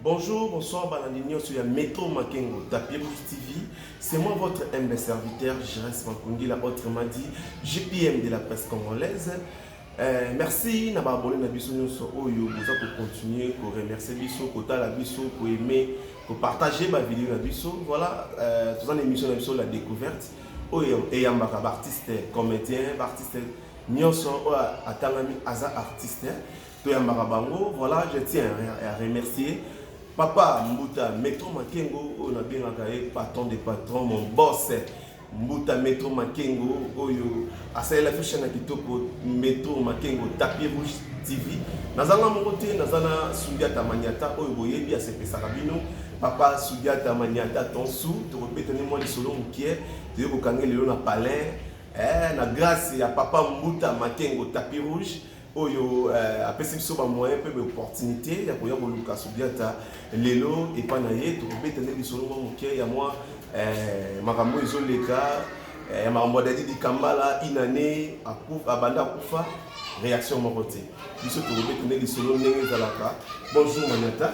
Bonjour, bonsoir balandi nionso ya Metro Makengo Tapie Plus TV. C'est moi votre humble serviteur Jires Makungila autrement dit JPM de la presse congolaise. Euh, merci na ba abonné na biso nionso oyo boza ko continuer ko remercier biso, ko tala biso, ko aimer, ko partager ba vidéo na biso. Voilà, euh, toza na émission na biso la découverte oyo eyambaka ba artistes comédiens, ba artistes nionso oyo atangami aza artiste. toyambaka bango voilà je tiens à remercier papa mbuta metro makengo oyo nabengaka ye patron de patron mon boss mbuta metro makengo oyo asalela fishe na kitoko metro makengo tapie rouge tv nazanga moko te naza na sudiata maniata oyo boyebi asepesaka bino papa sudiata maniata tonsu tokobetani mwa lisolo mokie toye kokange lelo na palin eh, na grâce ya papa mbuta makengo tapie rouge oyo euh, apesi biso bamoyen mpe baopportunité ya koya koluka subiata lelo epai na ye tokobeta nde lisolo mwa moke ya mwa euh, makambo ezoleka euh, ya makambo ya dadi dikambala inane abanda akufa réaction moko te biso tokobeta nde lisolo ndenge ezalaka bonjour maniata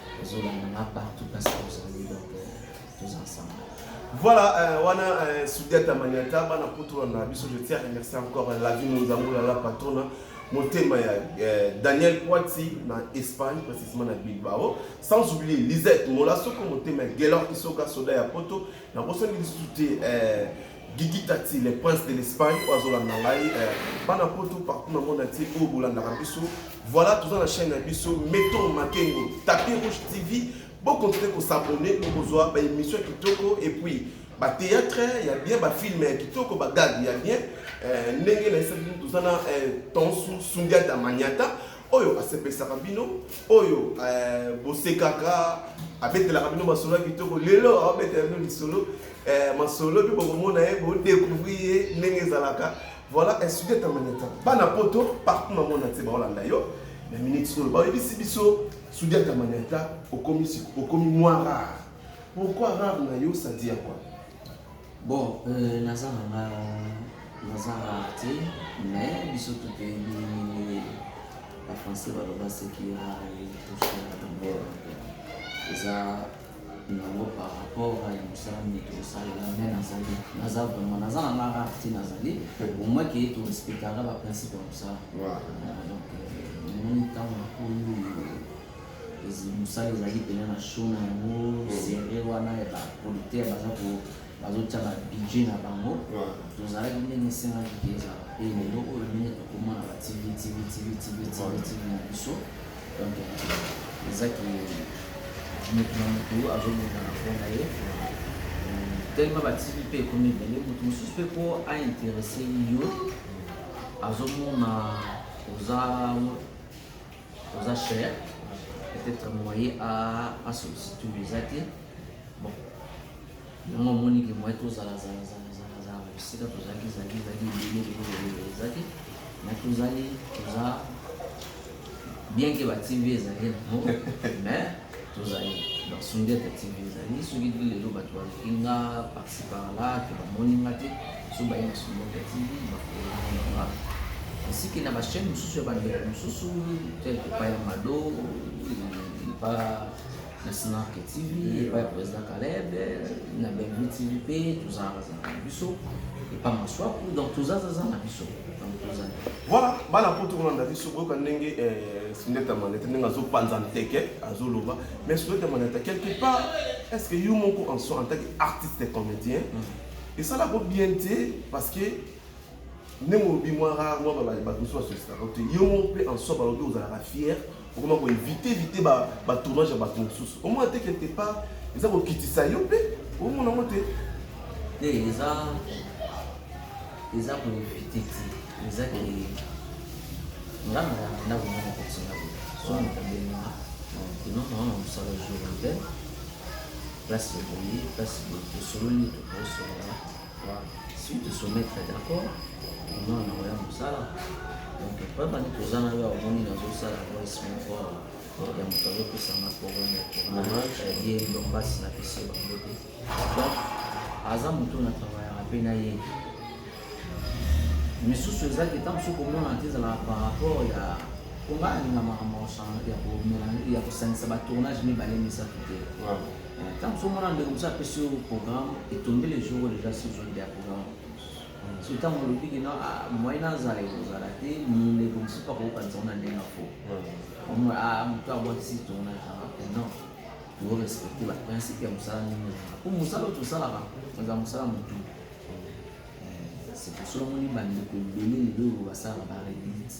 ozolanda nga partout parce que ozali donc tous ensemble voilà euh, wana euh, sudiata maniata bana kutu na biso je tiens à remercier encore euh, la vie monzango la la patrona motema ya euh, daniel poiti na espagne précisément na bilbao sans oublier lisette mola soko motema ya gelor isoka soda ya poto nakosaki lisusu te euh, Gigi Tati, le prince de l'Espagne, oyo azolanda ngai eh, bana poto partout na monde entier oyo bolandaka biso voilà toza na chaîne na biso meton makengo tapis rouge tv bokontinue kosabone bokozwa baémission ya kitoko et puis batéâtre ya bien bafilme ya kitoko bagage ya bien eh, ndenge nayesaki bino toza na eh, tonsu sundiata maniata oyo asepesaka bino oyo bosekaka abetelaka bino masolo ya kitoko lelo abetela bino lisolo Eh, masolo bi bokomona ye bo découvrir ye ndenge ezalaka voilà estudier tamaneta bana poto partout na mona te baolanda yo na minute solo bayebisi biso sudia tamaneta okomi okomi mwa rare pourquoi rare na yo ça dit à quoi bon euh, naza nanga naza rare te mais biso tout toyebi nini bafrançais baloba seki rare toshia tambor eza yango par rapport ya mosala nini tokosalela me nazali naza vraiment naza na nga rare ti nazali omoi ke torespectaka baprincipe ya mosala donc omoni ntango na koyo mosala ezali mpena na show na yango sere wana ya baproducteur baza ko bazotya babudget na bango tozalaki ndenge esengaki te ezala mpe lelo oyo ndenge tokoma na batv tv tv tv tv tv na biso donc eza ki motu na motu azobunda na mpo na ye tellement batiki mpe ekomi ebele motu mosusu mpe mpo ainteresse yo azomona oza oza cher peut-être moyen asubstitue eza te Yango omoni ke moye tozala zala zala zala zala ba bisika tozalaki zalaki zalaki ebele ebele ebele eza te me tozali toza bien ke ba tv ezali nango me tozali donc sundete tv ezali soki ti lelo bato baluki nga parci par là to bamoni nga te so baye na sundete tv bakoaa esiki na bachaine mosusu ya bandeko mosusu tel epai ya mado epa na Snark TV epai ya président Caleb na Bellevue TV mpe tozalaka zalaka na biso epa maswaku donc tozazaza na biso donc tozali voilà bana mpo tokolanda biso koyoka ndenge eh, sundeta maneta ndenge azopanza nteke azoloba mais sundeta maneta quelque part est ce que yo moko en soi en tant que artiste comédien mm. esalako bien te parce que ndenge olobi mwa rare mwa bato mosusu basositaka te yo moko mpe en soi balobi ozalaka fier okoma koevite evite batournage ya bato mosusu omona te quelque part eza kokitisa yo mpe omona yango te te eza eza koevite te eza ke nga na ndako moko kotinga boye so moto abengaa enoko yango na mosala jour ya place boye place boye tosololi tokosolaa suite soumettre d'accord omona na oya mosala donc pabandi toza na yo omoni nazosala voice moko ya moto azopesanga problème ya tournage ye ndo mpasi na pesi bango te donc aza moto na travaillaka mpe na ye misusu ezalaki ntango mosusu komona te ezalaka par rapport ya konga alinga makambo ya kosangisa batournage mibale misato te Ntango mosusu omona ndeko mosusu apesi yo programme etonde le jour oyo deja sur zone ya programme so ntango olobi kino moyen azala ekozala te ndeko mosusu mpe akokokanisa ngo na ndenge ya fo moto abwakisi tona non tozo respecte baprincipe ya mosala ndenge po mosala oyo tosalaka eza mosala motu c'est solo moni bandeko ebele lelo oyo basalaka baredite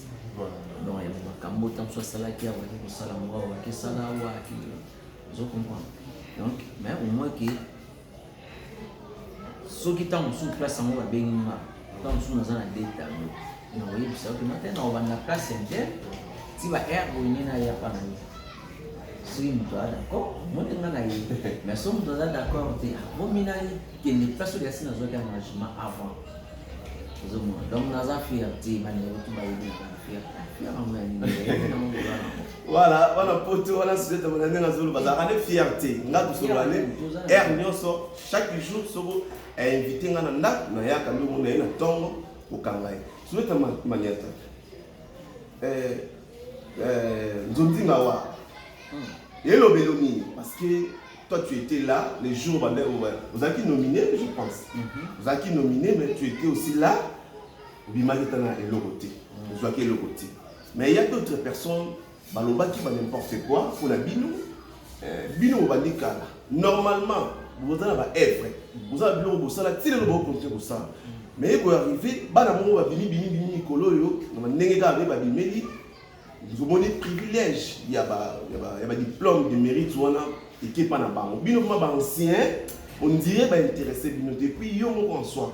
donc ya makambo ntango mosusu asalaki akoki kosala ngo akoki esala awa akende ozo comprendre donc mais au moins que soki ntango mosusu place yango babengi nga ntango mosusu naza na deta yango nakoyebisa oke nate na obanda place inter ti ba air boyine na ya pana ye soki moto aza d'accord omoni nga na ye mais soki moto aza d'accord te akomi na ye kende place oyo yasi nazwaki engagement avant ozomona donc naza fier te bandeko to bayebi na fier fier yango ya nini Voilà, wana poto wana sujeta mona ndenge azolo bazalaka nde fierté nga tosolola nde aire nyonso chaque jour soko ainvite nga na ndako nayaka nde omona ye na ntongo kokanga ye sujeta maniata eh, eh, nzondinga wa hmm. elobelo nini parce que toi tu étais là les jours bande ozalaki nominé je pense mhm. ozalaki nominé mais tu étais aussi là obimaki ta na eloko te hmm. ozwaki eloko te Mais il y a d'autres personnes balobaki ba n'importe quoi pour la bino euh, bino bobandi kala normalement boza na baevre boza na biloko bosala ti lelo bokonte kosala mais ekoarrive bana bongo babimi bimi bimi mikolo oyo na ndenge kaka nde babimeli omoni privilège ya badiplôme de mérite wana ekepa na bango bino ma baancien ondire bainteresse bino te puis yo moko en soi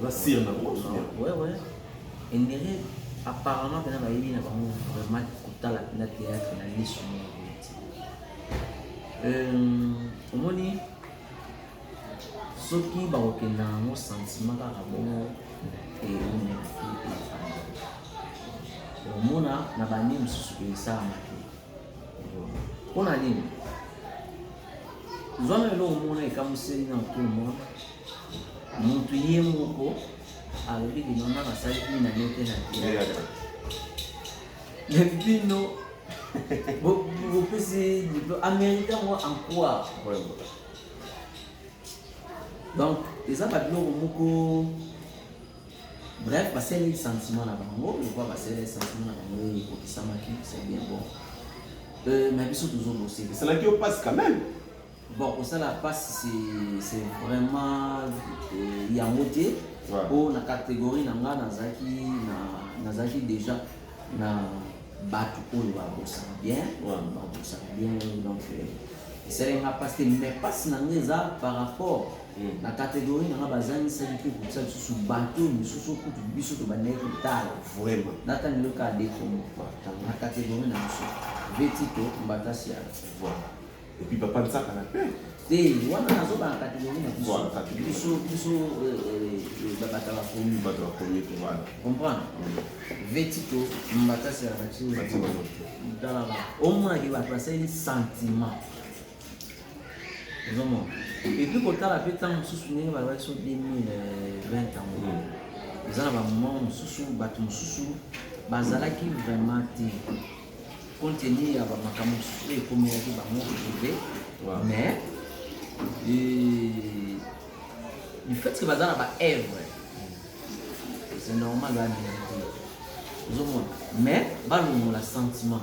Oza sir na ko suya. Ouais ouais. Endere apparemment pena bayebi na bango vraiment kotala pena théâtre na liso moko boye te. Euh, omoni soki bakokenda yango sentiment kaka bongo eumela te efanda omona na bani mosusu esalamaki Mpo na nini? Zwana eloko moko na ekamuseli na mokolo moko, motu ye moko alobi limama basali bina ye te na teyatra me bino bopesi amerika ngo ankwa donc eza babiloko moko Bref, basali sentiment na bango, lokola basali sentiment na bango oyo ekokisamaki, c'est bien bon. Euh, mais biso tozo bosser. Esalaki yo passe quand même. Bon, kosala passe c'est c'est vraiment euh, yango te. Ouais. Po na catégorie na nga nazalaki na nazalaki déjà na bato oyo babosaka bien, ouais. babosaka bien donc euh, esalaki nga passe te, mais passe na nga eza par rapport mm. na kategori nanga bazangisaki mpe kotisa lisusu bato mosusu kutu biso tobandaki kotala vraimen natani loka adekomo na kategori na biso vetito mbatasi ya voilà epuis papa nsaka na mpe te wana nazoba na kategori na biso biso biso euh, euh, babata bakomi bato bakomi te wana comprendre mm. vetito mbatasi ya batio talaka omonaki bato basali sentiment ozomona epuis kotala mpe ntango mosusu ndenge balobaki so 2020 yango hmm. eza na bamoment mosusu bato mosusu bazalaki vraiment te compte tenu ya bamakambo mosusu oyo ekomelaki bango prive mais du fait que baza na baevre c'est normal bamina te ozomona mais balongola sentiment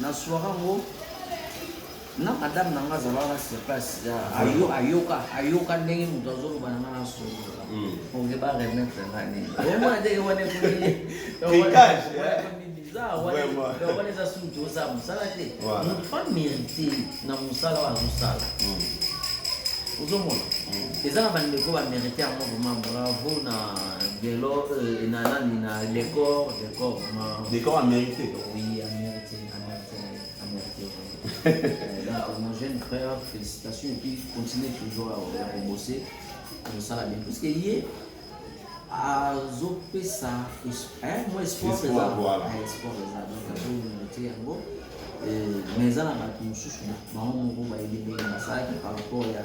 Na soirée yango na madame na nga azalaka sur place ayoka ayoka ndenge moto azoloba na nga na solola oke ba remettre nga nini omona ndenge wana ekomiwana eza suki oza mosala te moto pa mérite na mosala oyo azosala ozomona eza na bandeko bamérite yango vraimen bravo na gelo na nani na decor decor vraimen decor amerite Oui, à mériter, à mériter, à mériter. Euh, donc, mon jeune frère, félicitations et puis continuez toujours à, à bosser. Comme ça, la bien. Parce que hier, azopesa mwa espoir eza donc azomete yango mais eza na bato mosusu bango moko bayebi ndenge basalaki par rapport ya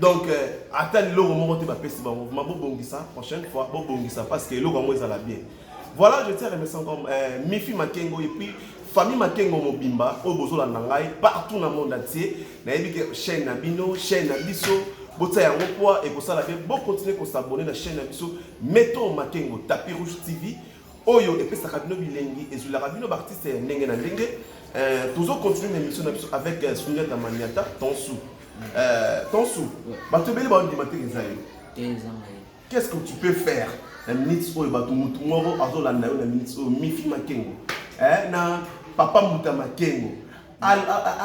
donc euh, ata liloko moko te bapesi bango ma bobongisa prochaine fois bobongisa parce que eloko yango ezala bien voilà je tiens remercie encore euh, mifi makengo et puis famille makengo mobimba oyo bozolanda ngai partout na monde atie nayebi ke chaîne na bino chaîne na biso botia yango poa ekosala bien bokontinue kosabone na chaîne na biso meton makengo tapi rouge tv oyo epesaka bino bilengi ezwilaka bino baartiste ya ndenge na ndenge euh, tozo continue na émission na biso avec euh, suniata maniata tonsu euh, tonsu bato ebele baondima te eza yo qu'est-ce que tu peux faire na minute oyo bato motu moko azolanda yo na minute oyo mifi makengo eh, na papa mbuta makengo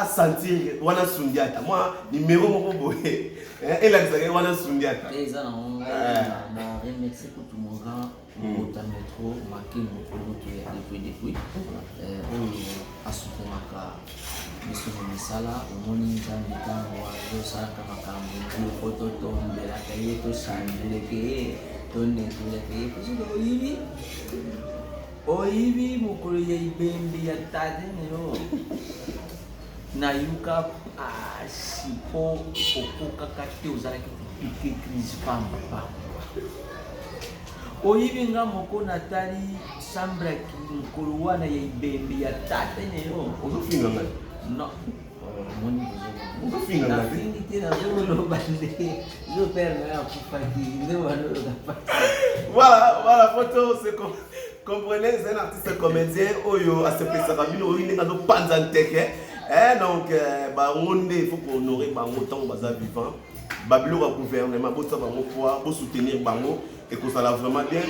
asentir wana sundiata mwa nimero moko boye eh, elakisaka ye wana sundiata otanga trop make mokoloto ya depuis depuis oyo asukolaka biso na misala omoni nzambe ntango azosalaka makambo biloko totombelaka ye tosanduleke ye tonetoleke ye kozika oyibi oyibi mokolo ya ibembe ya tade nelo Nayoka pasi po okokaka te ozalaki kopike crise pamba pamba. Oyibi nga moko natali sambra ki mokolo wana ya ibembe ya tata na yo. Ozofinga ngai? Non. Omoni ozofinga ngai? Nafingi te nazoloba nde yo père na yo akufaki nde wandoyoka pasi. Voilà, voilà, photo c'est comme comprenez c'est un artiste comédien oyo asepesaka bino oyo ndenge azopanza nteke eh, donc euh, bango nde il faut kohonore bango ntango baza vivant babiloko ya gouvernement botia bango poa bosoutenir bango ekozala vraiment bien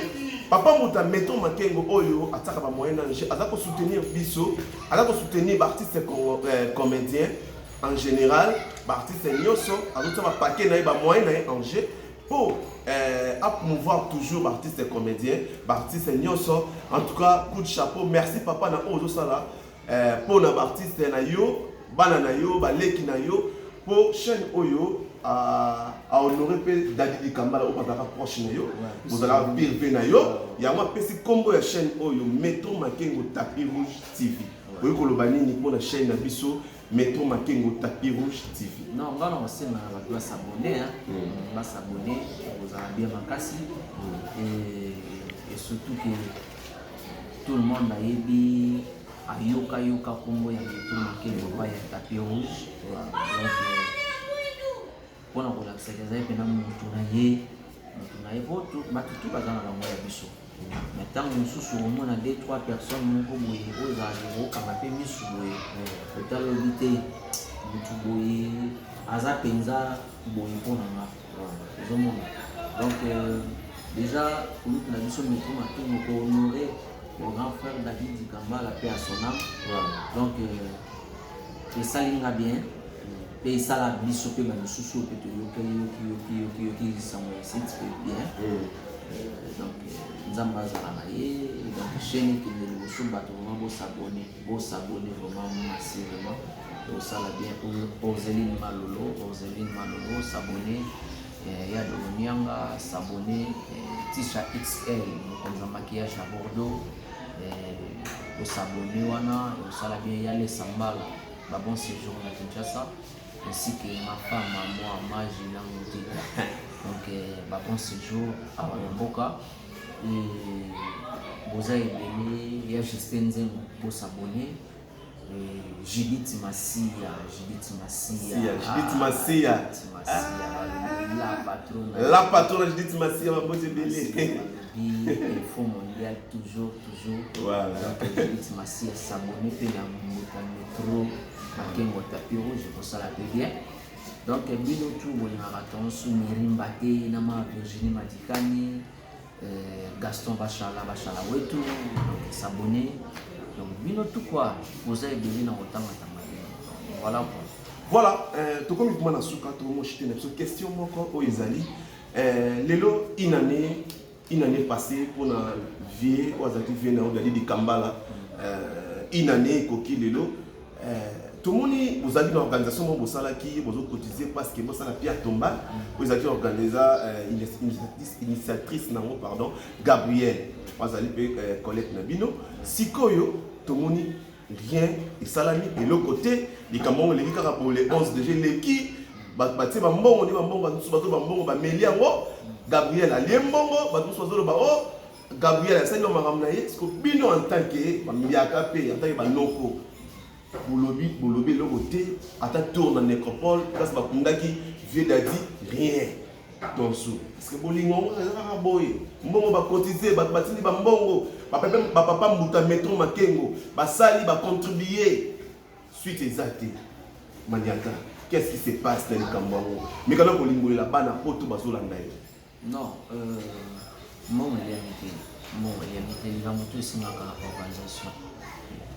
papa muta meto makengo oyo atiaka bamoyen ange aza kosoutenir biso aza kosoutenir baartiste euh, comédien en général baartiste nyonso azotia bapake na ye bamoyen na ye ange po eh, a promouvoir toujours baartiste comédien baartiste nyonso en tout cas coup de chapeau merci papa na oyo ozosala eh, mpo na baartiste na yo bana na yo baleki na yo mpo chaîne oyo ahonore mpe dadi likambala oyo bazalaka proche na yo ozalaka pire mpe na yo yango apesi nkombo ya chaîne oyo metro makengo tapi rouge tv oyi koloba nini mpo na chaîne na biso Metro Makengo tapis rouge TV. Non, nga na kosenga na bato basabone, hmm. basabone kozala bien makasi hmm. et surtout que tout le monde ayebi ayoka yoka kombo ya Metro Makengo pa ya tapis rouge donc euh, mpo na kolakisa ke azali mpena motu na ye motu na ye po bato tu baza na bango ya biso na ntango mosusu omona de trois personnes moko boye oyo ezalaka kokanga mpe misu boye otala oyebi te motu boye aza mpenza boye mpo na nga ozomona donc euh, déjà kulutu na biso metro matungo ko honore le grand frère david dikambala mpe asonam donc euh, esali nga bien mpe esala biso mpe na misusu oyo mpe toyokeli yoki yoki yoki yoki lisango ya site mpe bien hmm. euh, donc euh, nzambe azala na ye donc chaîne ekende liboso bato vraimen bosabone bosabone vraiment massivement osala bien orzeline malolo orzeline malolo sabone euh, ya dolonianga sabone tisha xl mokonzi ya maquillage ya bordeaux osabone wana osala bien ya lesambala Ba bon séjour na Kinshasa ainsi que ma femme à moi Maji na Mudita. Donc euh, ba bon séjour awa na mboka et boza ebele ya Justin Nzembo bo s'abonner et Judith Masiya, Judith Masiya, Sia, Judith Masiya. Judith Masiya, la patrona, La patrona Judith Masiya mabonzi ebele. Info mondial toujours. masiya sabone mpe na mbuta metro makengo tapi rouge ekosala mpe bien donc bino tu bolingaka tonso mirimba te na ma virginie madikani euh, gaston bashala bashala wetu donc sabone donc bino tu kua oza ebele na kotangatanga te voilà kua voilà euh, tokomi kuma na suka tokomoshite na biso question moko oyo ezali euh, lelo inane Une année passée mpo na vie oyo azalaki vie na yo dadi dikambala euh, une année ekoki lelo euh, tomoni bozalaki na organisation moko bosalaki bozocotize parce que bosala pia tomba oyo ezalaki organisa euh, initiatrice nango pardon gabriel azali mpe collecte na bino sikoyo tomoni rien esalami eloko te likambo yango eleki kaka bole 11 deja eleki bato batie bambongo nde bambongo bato mosusu bazoloba mbongo bameli yango gabriel alie mbongo bato mosusu bazoloba o oh, gabriel asali ba makambo na ye siko bino en tant ke bamiliaka mpe en tant ke banoko bolobi bolobi eloko te ata tour na necropole place bakundaki vieux dadi rien Attention, parce que bolingo yango eza kaka boye mbongo bakotize bato batindi bambongo bapapa mbuta metro makengo basali bacontribue suite eza te maniata qu'est-ce qui se passe na likambo yango mekana kolimbolela bana poto bazolanda ye non euh... Mbongo eliami te, mbongo eliami te, likambo tu esengaka organisation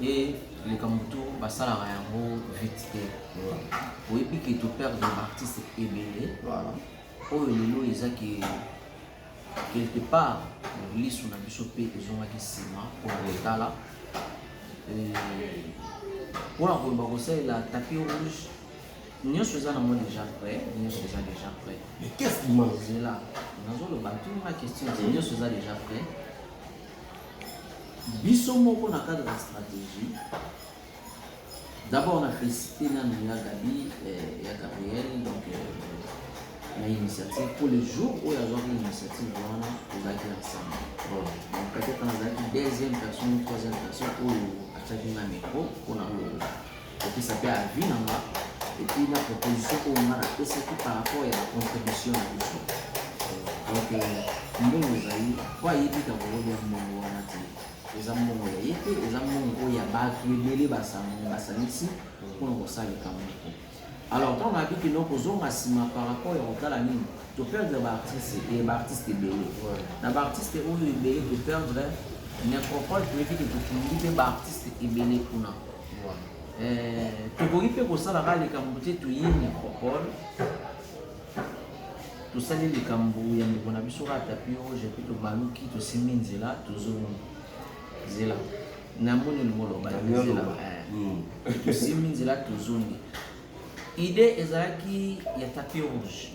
mpe likambo tu basalaka yango vite te. Oyebi ke to perdre baartiste ebele oyo lelo eza ke quelque part lisu na biso mpe ezongaki nsima mpo na kotala mpo na koyeba kosalela tapi rouge Nyoso eza nango deja prêt, nyoso eza deja prêt. Mais qu'est-ce qui manque? Zela, nazoloba tuni nga question te, nyoso eza deja prêt. Biso moko na cadre ya stratégie, d'abord na félicité nanu ya Gabi, eh, ya Gabriel, donc euh, na initiative pour le jour oyo azwaki initiative wana tozalaki ensemble donc peut-être nazalaki deuxième personne troisième personne oyo atyaki nga micro mpo na koloba kopesa mpe avis na nga epuis na proposition oyo nga napesaki par rapport ya bacontribution na biso donc euh, mbongo ezali po ayebi kakolobi ya mbongo wana te eza mbongo ya ye te eza mbongo oyo ya bato ebele basangani basangisi mpona kosala likambo moko alors ntango nayebi kino kozonga nsima par rapport ya kotala nini toperdre baartiste eh, baartiste ebele na baartiste oyo ebele toperdre necropole toyebi ke tokundi mpe baartiste ebele kuna Eh, tokoki mpe kosalaka likambo te toye micropole tosali likambo ya ndeko na biso kaka tapi roge mpe tobaluki tosimbi nzela tozongi zela namoni olingo loba zela eh. hmm. tosimbi nzela tozongi idée ezalaki ya tapi rouge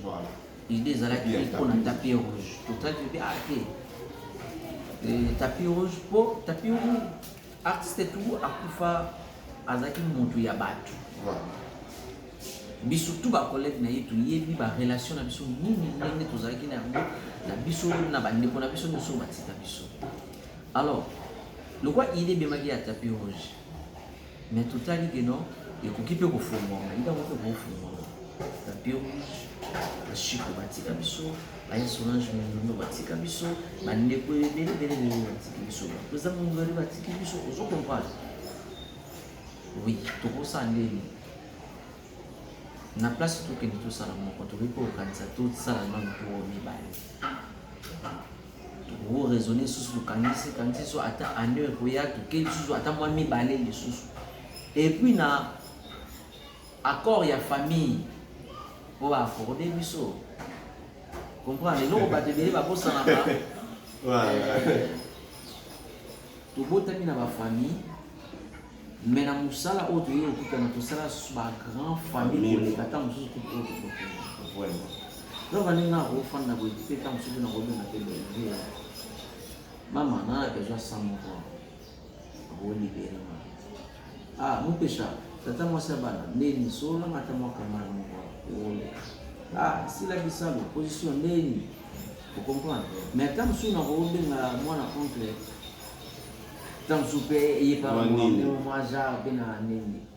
idée ezalaki mpo na tapi rouge totaki mpe ate ah, tapi rouge mpo tapi rouge Artiste tu akufa azalaki mutu ya batu biso tu ba collègue na ye toyebi ba relation na biso nini ndenge tozalaki na yango na biso na bandeko na biso nyonso batika biso alors lokwa ide ebemaki ya tapi rouge mais totali ke non ekoki mpe kofungwama idango mpe kofungwama tapi rouge bashiko batika biso Aye Solange Mindundo batika biso bandeko ebele ebele ebele batiki biso baprezida mongole batiki biso ozo comprendre oui tokosala ndeni na place tokende tosala moko tokoki kokanisa tosala nano po mibale tokoki raisonne lisusu tokanisi kanisi so ata année ekoya toke lisusu ata mwa mibale lisusu epuis na Accord ya famille oyo ba accorde biso comprendre eloko bato ebele babosanaka eh, tobotami na bafamille me na mosala oyo toyei kokutana tosala bagrand famille koleka ata mosusu kutu oyo donc ndenge nga akofanda boye mpe ntango mosusu nakobenga mpe bebe mama nana bezwa sa moko Ah, mupesha tata mwasi ya bana ndeni sola mata mwaka mwana moko wolo ah sila bisalu position ndeni o comprendre mais ata mosusu na kobenga mwana oncle ata mosusu mpe eyepa mwa genre mpe na ndenge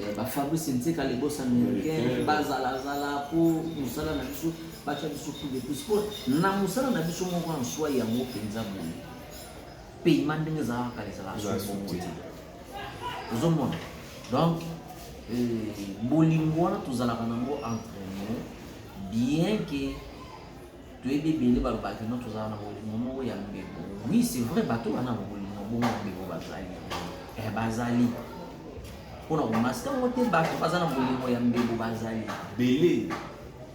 Eh, ba Fabrice Nzeka les boss américains bazala zala po musala na biso bacha biso coup de plus po na musala na biso moko en soi yango mpenza boye paiement ndenge ezalaka kala ezalaka soki te ozomona donc eh, bolingo wana tozalaka nango entre nous bien que toyebi ebele balobaka kino tozala na bolingo moko ya mbebo oui c'est vrai bato bana na bolingo bongo ya mbebo bazali eh, bazali mpona komaska yango te bato baza na bolingo ya mbebo bazali bele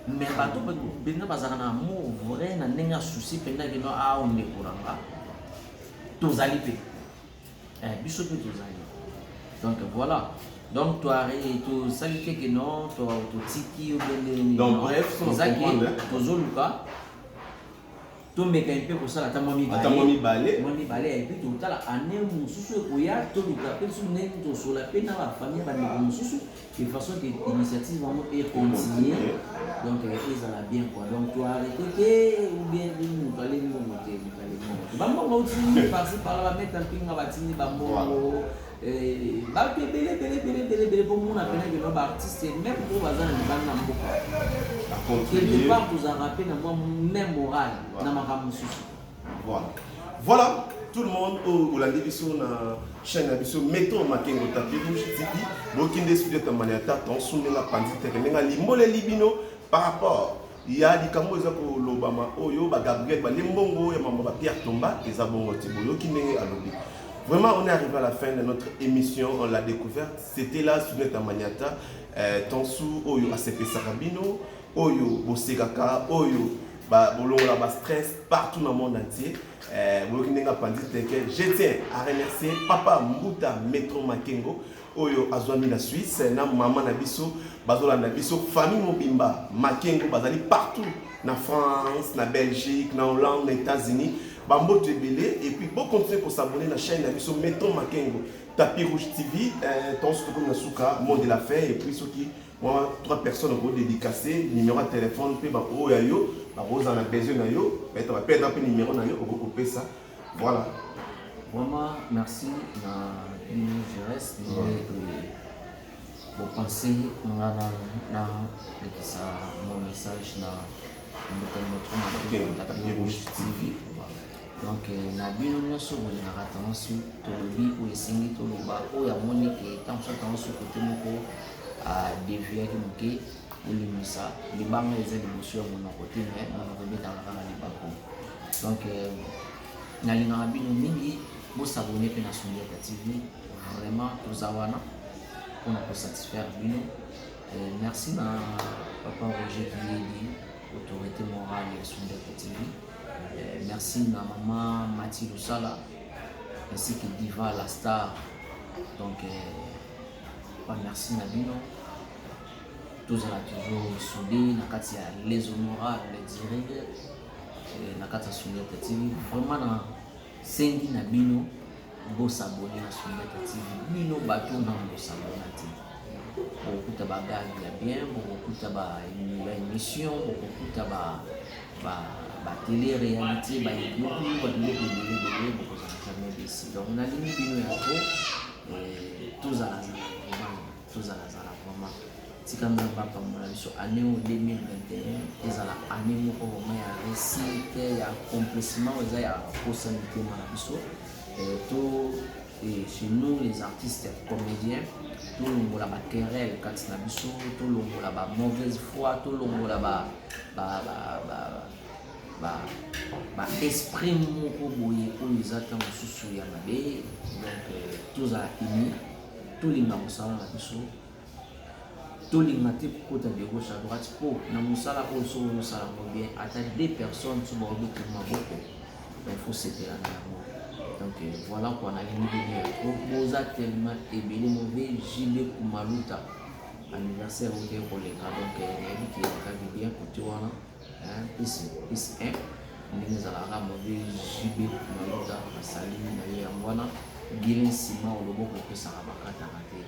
me bato mpenza bazalaka na amour vrai na ndenge ya souci mpenza kino awa ah, ndeko na nga tozali mpe eh, biso mpe tozali donc voilà donc tosali te ke non totiki tozoluka tomeka mpe kosala ata mwa mibale mwa mibale ya epi totala ane mosusu ekoya toluka mpe biso ndenge tosola mpe na bafamille bandeko mosusu de façon que initiative yango e continuer donc euh, ezala bien quoi donc to arrete te ou bien moto ale mbongo te moto ale mbongo te bambongo otindi parci parla bameta mpinga batindi bambongo euh, bato ebele ebele ebele ebele ebele bomona mpena keno baartiste meme oyo baza na libanda na mboka quelque part tozalaka mpe na mwa memoral na makambo mosusu Voilà. Voilà tout le monde oyo olandi biso na chaîne na biso meto makengo tapi rouge tipi bokende studio tambani ata tonsundela panzi teke ndenge alimboleli bino par rapport ya likambo eza kolobama oyo bagabriel balie mbongo ya mambo ba pierre tomba eza bongo ti boyoki ndenge alobi Vraiment, on est arrivé à la fin de notre émission. On l'a découverte. C'était là, Suneta Maniata, euh, Tansu, Oyo, Asepe Sarabino. oyo bosekaka oyo bolongola ba stress partout na monde entier eh, boyoki ndenge apanzi teke je tiens à remercier papa mbuta metro makengo oyo azwami na suisse na mama na biso bazolanda biso famille mobimba makengo bazali partout na france na belgique na hollande na états-unis bamboto ebele epuis bokontinue kosabone na chaîne na biso metro makengo tapis rouge tv eh, tonso tokomi na suka monde de la fin epuis soki Moi, trois personnes au dédicacé, numéro de téléphone, puis bah, oh, yo, bah, vous en a besoin de yo, mais tu vas perdre un peu numéro de yo, au couper ça. Voilà. Vraiment, merci na bino Jerez, bino ete bopense nga na na lekisa mon message na mboka moto na TV. Donc euh, na bino nyonso bolingaka tango su tolobi oyo esengi toloba oyo amoni ke ntango so tango su kote moko adeviaki ah, moke olimisa libanga eza liboso ya monoko te me monoko ebetaka kaka libako donc euh, nalingaka bino mingi bosabone mpe na sondiaka tv vraiment toza wana mpona kosatisfaire bino euh, merci na papa roger kiyedi autorité morale ya sondiaka tv Eh, merci na maman Mati Lusala ainsi que Diva la star. Donc eh, pas merci na bino. tozala toujours soudé na kati ya les honorables les dirige na kati ya soudete tv vraiment na sengi na bino Bo s'abonner na Sunbeta TV. Bino bato na bo s'abonner te. Bokokuta ba gag ya bien, bokokuta ba ba émission, bokokuta ba ba ba télé réalité, ba youtube, ba biloko ebele ebele bokozala jamais déçu. Donc nalingi bino ya trop. Eh, tozala na tozala zala vraiment tika nzambe apambola biso année oyo 2021 ezala année moko vraiment ya réussite ya accomplissement eza ya kosa mitema na biso eh, to eh, chez nous les artistes comédiens tolongola baquerelle kati na biso tolongola ba mauvaise foi tolongola ba, ba, ba, ba, ba baesprit moko boye oyo eza ntango mosusu ya mabe donc euh, tozala unis Tolinga mosala na biso, tolinga te kokota de gauche à droite mpo na mosala oyo soki ozosala yango bien ata deux personnes so baobeta maboko il faut sepela na yango donc euh, voilà kua nalingi bino trop boza tellement ebele move jibe kumaluta anniversaire oyo te koleka donc euh, nayebi kiyakaki bien kote wana Hein, peace, peace, hein. ndenge ezalaka mabe jibe mayuta basali na ye yango wana bile nsima o loboko epesaka bakataka te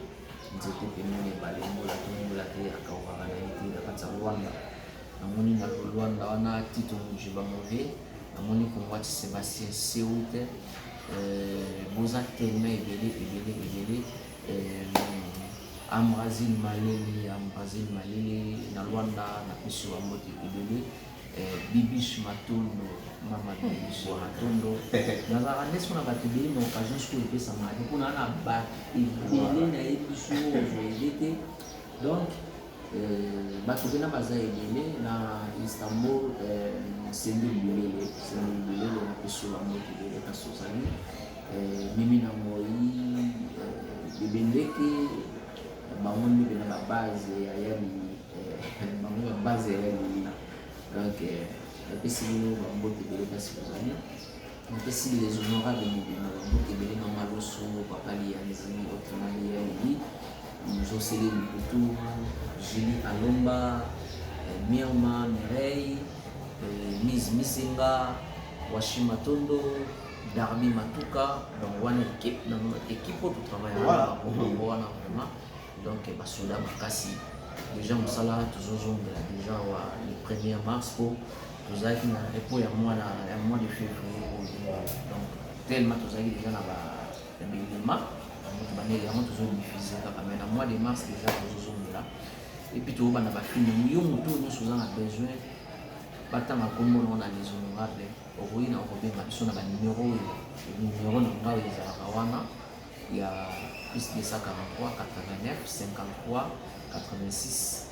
nzete pembeni ebale mbola te mbola te akaukaka na ye te na kati ya rwanda namoni na lolwanda wana tito mojiba move namoni kongwati sebastien seute euh, boza telema ebele ebele ebele euh, Ambrazine Malele, Ambrazine Malele na Luanda na pesi wa mbote ebele. Eh, Bibiche Matondo, mama Bibiche Matondo. Nazalaka nde sona bato ebele na occasion sikoyo epesamaka te mpo na na bato ebele nayebi biso oyo ozwa ede te donc bato mpena baza ebele na istanbul sende bilele sende bilele na pesola moki ebele kasi ozali mimi na moi bebendeke bango nde mpena babase ya yali bango babase ya yalilina donc napesi bino bambote ebele kasi ozali Napesi les honorables mobimba ba mboka ebele mama loso papa liyanzi autrement dit yaobi muzosele mputu julie alomba eh, mirma mireille eh, mise misenga washi matondo darbi matuka donc wana ekipe na ekipe oyo totravaille Voilà. wana bango wana vraiment donc eh, basoda makasi deja mosala tozozongela deja wa le 1er mars po tozalaki na epo ya mwana ya mois de février oyo donc tellement tozalaki deja na baelema yango tobandeli yango tozodifuse kaka mai na mois de mars deja tozozongela epuis toyobana bafilme yo moto oyo nyonso oza na besoin batanga nkombo nango na les honorable okoki na okobenga biso na banimero oyo nimero na ngai ezalaka wana ya plus 243 89 53 86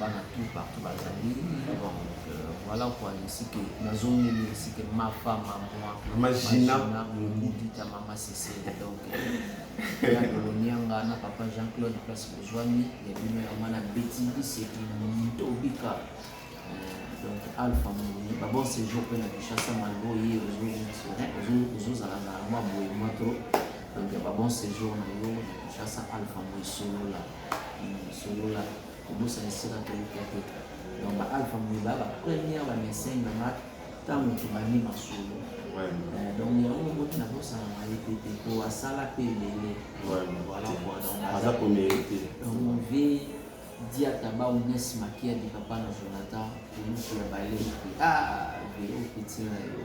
bana tout partout bazali donc euh, voilà quoi esike nazongeli esike mafa mamwa mamajina mobudita mama sesele donc ya kolonianga na papa jean claude place bozwami ya bino ya mwana beti biseki ntobika donc alpha moni ba bon séjour mpe na kinshasa malbo ye ozozala na mwa boye mwa to donc ya ba bon séjour na yo na kinshasa alpha moi solola solola kobosa esika toyika te donc ba alpha moyiba ba première ba message na nga ntango tobandi masolo euh, donc yango moti nabosana na ye te te po asala mpe ebele voilà quoi donc aza première te donc mon vieux diataba unes makia di papa na jonathan olusu ya baleki ah velo petit na yo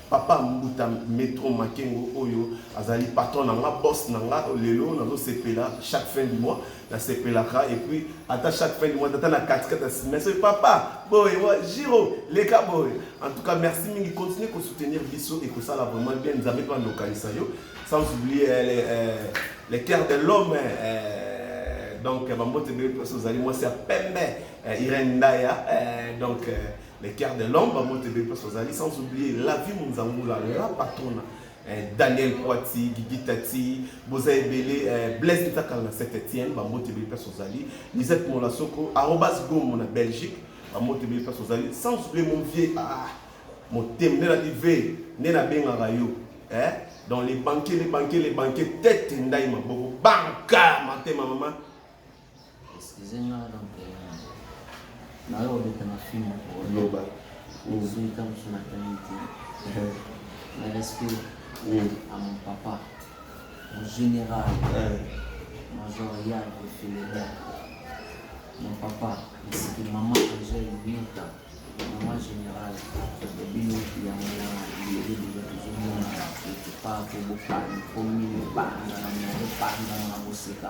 Papa mbuta metro makengo oyo azali patron na nga boss na nga lelo nazo sepela chaque fin du mois na sepelaka et puis ata chaque fin du mois ata na kati kati na mais papa boye wa giro leka boye en tout cas merci mingi continuer ko soutenir biso et ko sala vraiment bien nzambe pa ndokanisa yo sans oublier euh, les, euh, les cœurs de l'homme euh, donc bambote bebe mposo ozali mwasi ya pembe eh, irene ndaya eh, donc eh, les cœurs de l'homme bango te bebe mpasi bazali sans oublier la vie monzangula la patrona eh, daniel poiti gigitati boza ebele eh, blaise ntakala na saint etienne bango te bebe mpasi ozali lisette molasoko arobas gomo na belgique bango te bebe mpasi ozali sans oublier mon vieux ah, motema nde nati ve nde nabengaka yo eh? donc les banquier les banquier les banquier tete ndai maboko banka matema mama Excusez nga donc nayo obeta na film oloba ozui ka mosu na tani te na respect à mon papa mon général major yag feleda mon papa esiki mama angel nyota mama général bino yango na leli lelo tozomona ekipa kobopani komi panza na moko panza na koseka